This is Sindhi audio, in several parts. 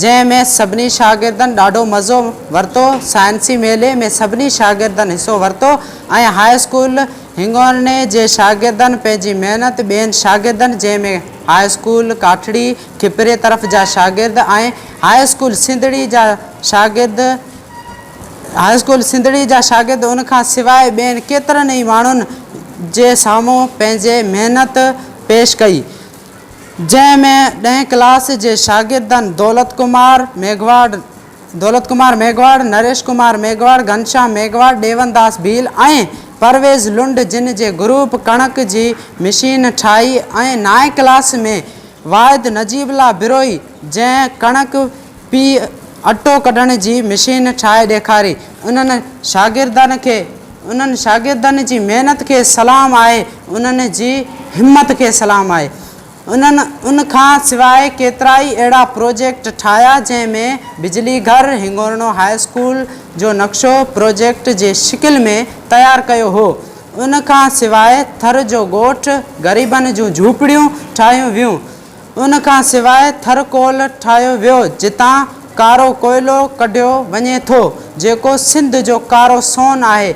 جنهن ۾ سڀني شاگردن ڏاڍو مزو ورتو، سائنسي ميلي ۾ سڀني شاگردن حصو ورتو ۽ هاء اسڪول هنڱورني جي شاگردن پنهنجي محنت ٻين شاگردن جنهن ۾ هاء اسڪول ڪاٺڙي کپري طرف جا شاگرد ۽ هاء اسڪول سنڌڙي جا شاگرد هاء اسڪول سنڌڙي جا شاگرد ان کان سواء ٻين ڪيترن ئي ماڻهن جي سامهون پنهنجي محنت پيش ڪئي جنهن ۾ ڏهين ڪلاس جي شاگردن دولت ڪمار ميگهواڙ، دولت ڪمار ميگهواڙ، نريش ڪمار ميگهواڙ، گهنشام ميگهواڙ، ڏيون داس ڀيل ۽ پرويز لنڊ جن جي گروپ ڪڻڪ جي مشين ٺاهي ۽ نائين ڪلاس ۾ واحد نجيب الله بروهي جنهن ڪڻڪ پيهي اٽو ڪڍڻ جي مشين ٺاهي ڏيکاري انهن شاگردن کي انهن شاگردن جي محنت کي سلام آهي، انهن جي همت کي سلام آهي. انهن ان کان سواء ڪيترائي اهڙا پروجيڪٽ ٺاهيا جنهن ۾ بجلي گهر، هنگورنو هاء اسڪول جو نقشو پروجيڪٽ جي شڪل ۾ تيار ڪيو هو. ان کان سواء ٿر جو ڳوٺ، غريبن جون جهوپڙيون ٺاهيون ويون. ان کان سواء ٿر ڪول ٺاهيو ويو جتان ڪارو ڪوئلو ڪڍيو وڃي ٿو جيڪو سنڌ جو ڪارو سون آهي.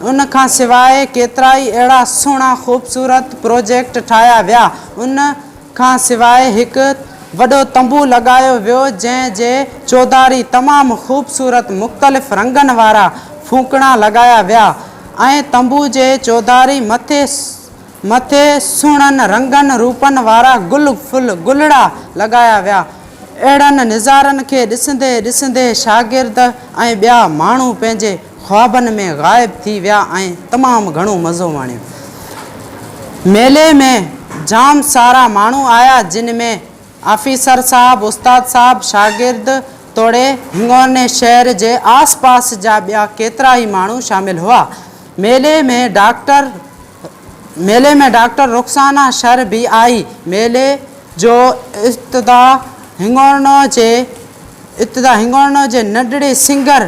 ان کان سواء ڪيترائي اهڙا سهڻا خوبصورت پروجيڪٽ ٺاهيا ويا. ان کان سواء هڪ وڏو تنبو لڳايو ويو جنهن جي چوڌاري تمام خوبصورت مختلف رنگن وارا ڦوڪڻا لڳايا ويا ۽ تنبو جي چوڌاري مٿي مٿي سهڻن رنگن روپن وارا گل ڦل گلڙا لڳايا ويا. اهڙن نظارن کي ڏسندي ڏسندي شاگرد ۽ ٻيا ماڻهو پنهنجي خوابن ۾ غائب ٿي ويا ۽ تمام گهڻو مزو ماڻيو. ميلي ۾ جام سارا ماڻهو آيا جن ۾ آفيسر صاحب، استاد صاحب، شاگرد توڙي هنڱورني شهر جي آس پاس جا ٻيا ڪيترائي ماڻهو شامل هئا. ميلي ۾ ڊاڪٽر. ميلي ۾ ڊاڪٽر رخسانه شر به آئي. ميلي جو ابتدا هنڱورنو جي ابتدا هنڱورنو جي ننڍڙي سنگر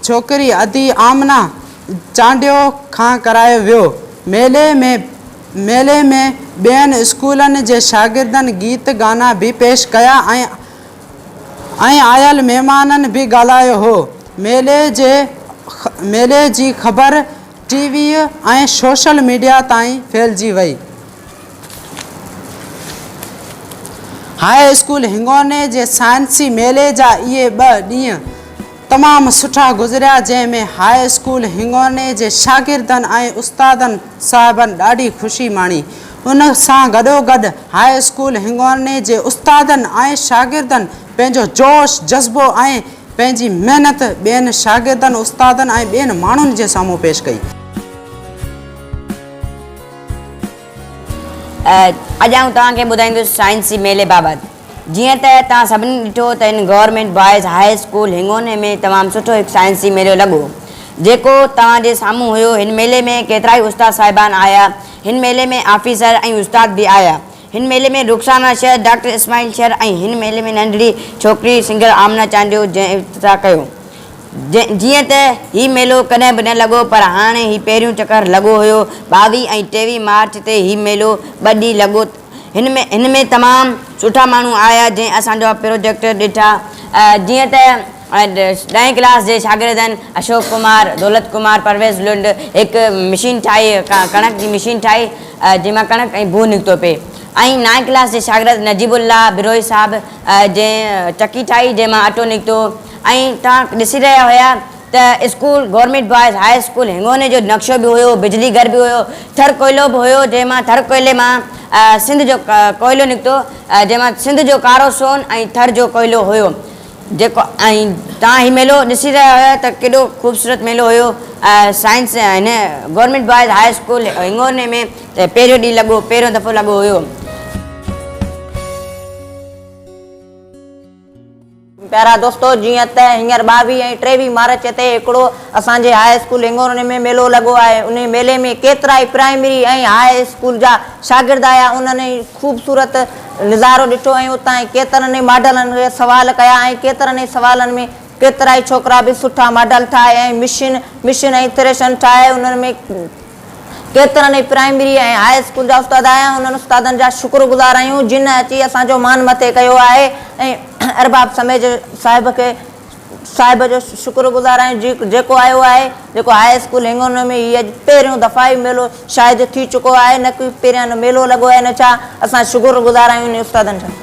ڇوڪري ادي آمنه چانڊيو کان ڪرايو ويو. ميلي ۾ ميلي ۾ ٻين اسڪولن جي شاگردن گيت گانا به پيش ڪيا ۽ ۽ آيل مهمانن به ڳالهايو هو. ميلي جي ميلي جي خبر ٽي ويء ۽ سوشل ميڊيا تائين ڦهلجي وئي. هاء اسڪول هنگوني جي سائنسي ميلي جا اهي ٻه ڏينهن تمام سٺا گذريا جنهن ۾ هاء اسڪول هنگوني جي شاگردن ۽ استادن صاحبن ڏاڍي خوشي ماڻي. ان سان گڏوگڏ هاء اسڪول هنگوني جي استادن ۽ شاگردن پنهنجو جوش، جذبو ۽. پنهنجي محنت ٻين شاگردن، استادن ۽ ٻين ماڻهن جي سامهون پيش ڪئي. اڄ آئون توهان کي ٻڌائيندس سائنسي ميلي بابت. جيئن ته توهان سڀني ڏٺو ته هن government boys high school Hingorni ۾ تمام سٺو هڪ سائنسي ميلو لڳو. جيڪو توهان جي سامهون هيو. هن ميلي ۾ ڪيترائي استاد صاحبان آيا. هن ميلي ۾ آفيسر ۽ استاد به آيا. هن ميلي ۾ رخسانه شر، ڊاڪٽر اسماعيل شر ۽ هن ميلي ۾ ننڍڙي ڇوڪري سنگر آمنه چانڊيو جنهن افتتاح ڪيو. جيئن ته هي ميلو ڪڏهن به نه لڳو پر هاڻي هي پهريون چڪر لڳو هيو. ٻاويهه ۽ ٽيويهه مارچ تي هي ميلو ٻه ڏينهن لڳو. هن ۾ تمام سٺا ماڻهو آيا جنهن اسانجا پروجيڪٽ ڏٺا. جيئن ته ڏهين ڪلاس جي شاگردن اشوڪ ڪمار، دولت ڪمار، پرويز لنڊ هڪ مشين ٺاهي، ڪڻڪ جي مشين ٺاهي جنهن مان ڪڻڪ ۽ بوء نڪتو پئي ۽ نائين ڪلاس جي شاگرد نجيب الله بروهي صاحب جنهن چڪي ٺاهي جنهن مان اٽو نڪتو ۽ توهان ڏسي رهيا هيا ته school government boys high school Hingorni جو نقشو به هيو، بجلي گهر به هيو، ٿر ڪوئلو به هيو جنهن مان ٿر ڪوئلي مان سنڌ جو ڪوئلو نڪتو جنهن مان سنڌ جو ڪارو سون ۽ ٿر جو ڪوئلو هيو. جيڪو ۽ توهان هي ميلو ڏسي رهيا هيا ته ڪيڏو خوبصورت ميلو هيو سائنس هن government boys high school Hingorni ۾ ته پهريون ڏينهن لڳو پهريون دفعو لڳو هيو. پيارا دوستو جيئن ته هينئر ٻاويهه ۽ ٽيويهه مارچ تي هڪڙو اسان جي هاء اسڪول هنڱورني ۾ ميلو لڳو آهي انهي ميلي ۾ ڪيترائي پرائمري ۽ هاء اسڪول جا شاگرد آيا انهن خوبصورت نظارو ڏٺو ۽ اتان ئي ڪيترن ئي ماڊلن کي سوال ڪيا ۽ ڪيترن ئي سوالن ۾ ڪيترائي ڇوڪرا به سٺا ماڊل ٺاهي ۽ مشين مشين ۽ ٿريشن ٺاهي انهن ۾ ڪيترن ئي پرائمري ۽ هاء اسڪول جا استاد آيا ۽ انهن استادن جا شڪر گذار آهيون جن اچي اسان جو مان مٿي ڪيو آهي ۽ ارباب سميجه صاحب کي صاحب جو شڪر گذار آهيون جي جيڪو آيو آهي جيڪو هاء اسڪول هنگنو ۾ هي اڄ پهريون دفعا هي ميلو شاهد ٿي چڪو آهي نه ڪي پهريان نه ميلو لڳو آهي نه ڇا اسان شڪر گذار آهيون انهن استادن جا.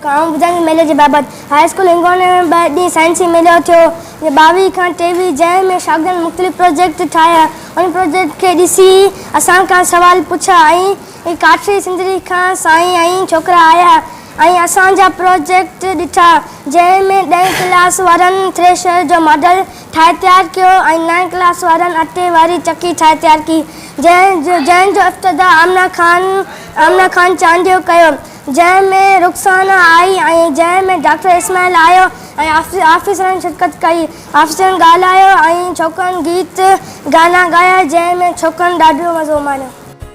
آئون ٻڌان ٿي ميلي جي بابت هاء اسڪول هنگنو ۾ ٻه ڏينهن سائنسي ميلو ٿيو ٻاويهه کان ٽيويهه جنهن ۾ شاگردن مختلف پروجيڪٽ ٺاهيا انهن پروجيڪٽ کي ڏسي اسان کان سوال پڇا ۽ ۽ ڪاٺري سنڌڙي کان سائين ۽ ڇوڪرا آيا ۽ اسان جا پروجيڪٽ ڏٺا جنهن ۾ ڏهين ڪلاس وارن ٿريشر جو ماڊل ٺاهي تيار ڪيو ۽ نائين ڪلاس وارن اٽي واري چڪي ٺاهي تيار ڪئي جنهن جو افتتاح آمنه خان آمنه خان چانڊيو ڪيو جنهن ۾ رخسانه آئي ۽ جنهن ۾ ڊاڪٽر اسماعيل آيو ۽ آفيسرن شرڪت ڪئي آفيسرن ڳالهايو ۽ ڇوڪرن گيت گانا ڳايا جنهن ۾ ڇوڪرن ڏاڍو مزو ماڻيو.